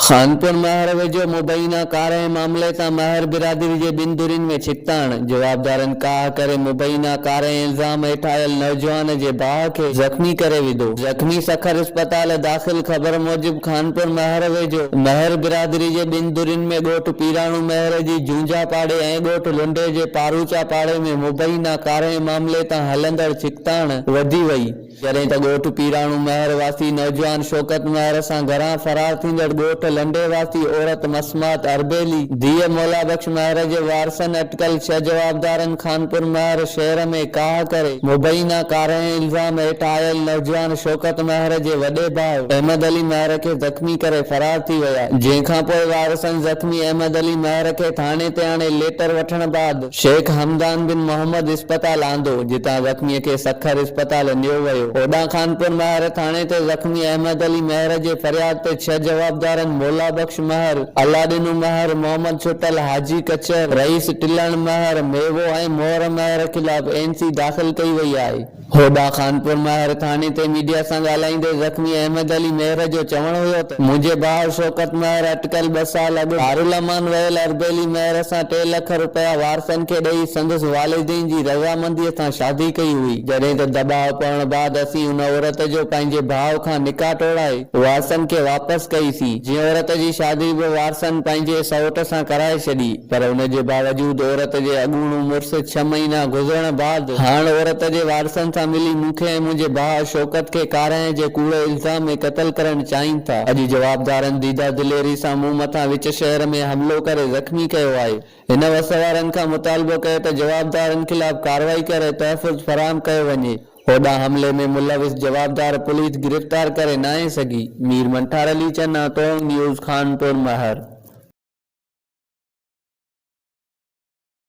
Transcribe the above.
خانپور مهر ويجهو مبينا ڪارنهن معاملي تان مهر برادري جي ٻن ڌرين ۾ ڇڪتاڻ، جوابدارن ڪاهه ڪري مبينا ڪارنهن الزام هيٺ آيل نوجوان جي باهه کي زخمي ڪري وڌو، زخمي سکر اسپتال داخل خبر موجب خانپور مهر ويجهو مهر برادري جي ٻن ڌرين ۾ ڳوٺ پيراڻو مهر جي جونجها پاڙي ۽ ڳوٺ لنڊي جي پاروچا پاڙي ۾ مبينا ڪارنهن معاملي تان هلندڙ ڇڪتاڻ وڌي وئي، جڏهن ته ڳوٺ پيراڻو مهر واسي نوجوان شوڪت مهر سان گهران فرار ٿيندڙ ڳوٺ لنڊي واسي عورت مسمات اربيلي، ڌيء مولا بخش مهر جي وارثن اٽڪل ڇهه جوابدارن خانپور مهر شهر ۾ ڪاهه ڪري، مبينا ڪارائين الزام هيٺ آيل نوجوان شوڪت مهر جي وڏي ڀاء احمد علي مهر کي زخمي ڪري فرار ٿي ويا، جنهن کانپوء وارثن زخمي احمد علي مهر کي ٿاڻي تي آڻي ليٽر وٺڻ بعد، شيخ حمدان بن محمد اسپتال آندو، جتان زخميء کي سکر اسپتال نيو ويو. هوڏانهن خانپور مهر ٿاڻي تي زخمي احمد علي مهر جي فرياد تي ڇهه جوابدارن مولا بخش مهر، الله ڏنو مهر، محمد ڇٽل، حاجي ڪچر، رئيس ٽلڻ مهر، ميوو ۽ مهر مهر خلاف اين سي داخل ڪئي وئي آهي. هوڏانهن خانپور مهر ٿاڻي تي ميڊيا سان ڳالهائيندي زخمي احمد علي مهر جو چوڻ هيو ته منهنجي ڀاء شوڪت مهر اٽڪل ٻه سال اڳ دارالامان ويل اربيلي مهر سان ٽي لک رپيا وارثن کي ڏئي سندس والدين جي رضامندي سان شادي ڪئي هئي جڏهن ته دٻاء پوڻ بعد اسين ان عورت جو پنهنجي ڀاء کان نڪاح ٽوڙائي وارثن کي واپس ڪئي سين جنهن عورت جي شادي به وارثن پنهنجي سئوٽ سان ڪرائي ڇڏي پر ان جي باوجود عورت جي اڳوڻو مڙس ڇهه مهينا گذرڻ بعد هاڻ عورت جي وارثن سان ملي مون کي ۽ منهنجي ڀاء شوڪت کي ڪارنهن جي ڪوڙي الزام ۾ قتل ڪرڻ چاهين ٿا. اڄ جوابدارن ديده دليري سان مون مٿان وچ شهر ۾ حملو ڪري زخمي ڪيو آهي. هن وس وارن کان مطالبو ڪيو ته جوابدارن خلاف ڪارروائي ڪري تحفظ فراهم ڪيو وڃي. هوڏانهن حملي ۾ ملوث جوابدار پوليس گرفتار ڪري ناهي سگهي. مير منٺار علي چنا، ٽونگ نيوز، خانپور مهر.